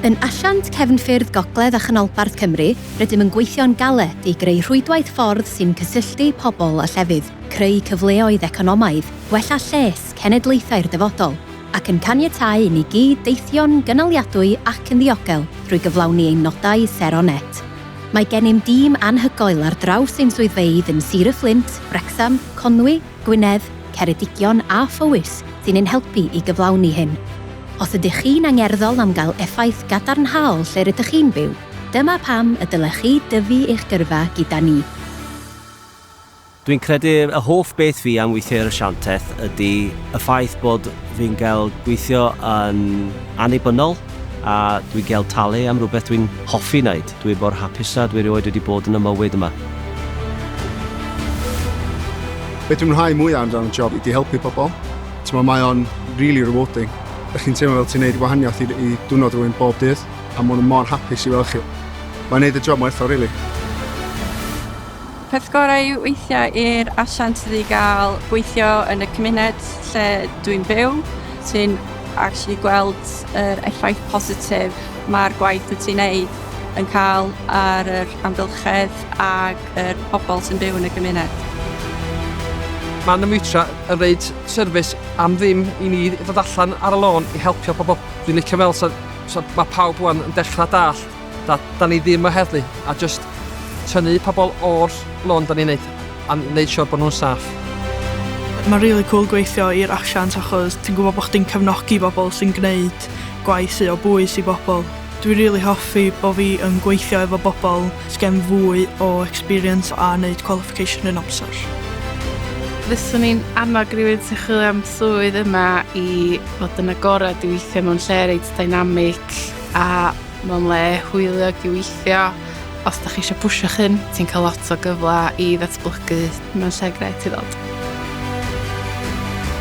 Yn asiant cefnffyrdd gogledd a chanolbarth Cymru, rydym yn gweithio'n galed i greu rhwydwaith ffordd sy'n cysylltu pobl a llefydd, creu cyfleoedd economaidd, gwella lles cenedlaethau'r dyfodol, ac yn caniatáu i ni gyd deithio'n gynaliadwy ac yn ddiogel drwy gyflawni ein nodau sero net. Mae gennym dîm anhygoel ar draws ein swyddfeydd yn Sir y Fflint, Wrecsam, Conwy, Gwynedd, Ceredigion a Phowys sy'n ein helpu i gyflawni hyn. Os ydych chi'n angerddol am gael effaith gadarnhaol lle rydych chi'n byw, dyma pam y dylech chi dyfu eich gyrfa gyda ni. Dwi'n credu y hoff beth fi am weithio i'r Asiantaeth ydy y ffaith bod fi'n gael gweithio yn annibynnol a dwi'n gael talu am rywbeth dwi'n hoffi wneud. Dwi mor hapusa dwi erioed wedi bod yn y mywyd yma. Be dwi'n mwynhau mwya yn ran y job ydi helpu pobl. T'mo mae o'n rili rewarding. Dych chi'n teimlo fel ti'n neud gwahaniaeth i i dwrnod rhywun bob dydd a ma' nhw mor hapus i weld chi. Mae'n neud y job mor werthfawr rili. Peth gorau yw weithio i'r asiant ydy gael gweithio yn y cymuned lle dwi'n byw. Ti'n actually gweld yr effaith positif mae'r gwaith wyt ti'n neud yn cael ar yr amgylchedd ac yr pobl sy'n byw yn y gymuned. Mae Namutra yn rhaid service am ddim i ni ddod allan ar y lôn i helpio pobl. Dwi'n licio fel so, so mae pawb wan yn dechrau dall Da, da ni ddim o heddlu a jyst tynnu pobl o'r lôn da ni'n neud a neud siwr bod nhw'n saff. Mae'n rili cwl gweithio i'r asiant achos ti'n gwybod bod chdi'n cefnogi bobl sy'n gwneud gwaith sy o bwys i bobl. Dwi rili hoffi bod fi yn gweithio efo bobl sy gen fwy o experience a neud qualification yn amser. Fyswn i'n annog rhywun sy'n chwilio am swydd yma i fod yn agored i weithio mewn lle reit dynamic. A mae'n le hwyliog i weithio. Os da chi eisiau pwysio chyn, ti'n cael lot o gyfle i ddatblygu. Mae'n lle gret i ddod.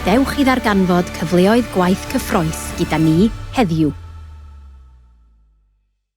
Dewch i ddarganfod cyfleoedd gwaith cyffroes gyda ni heddiw.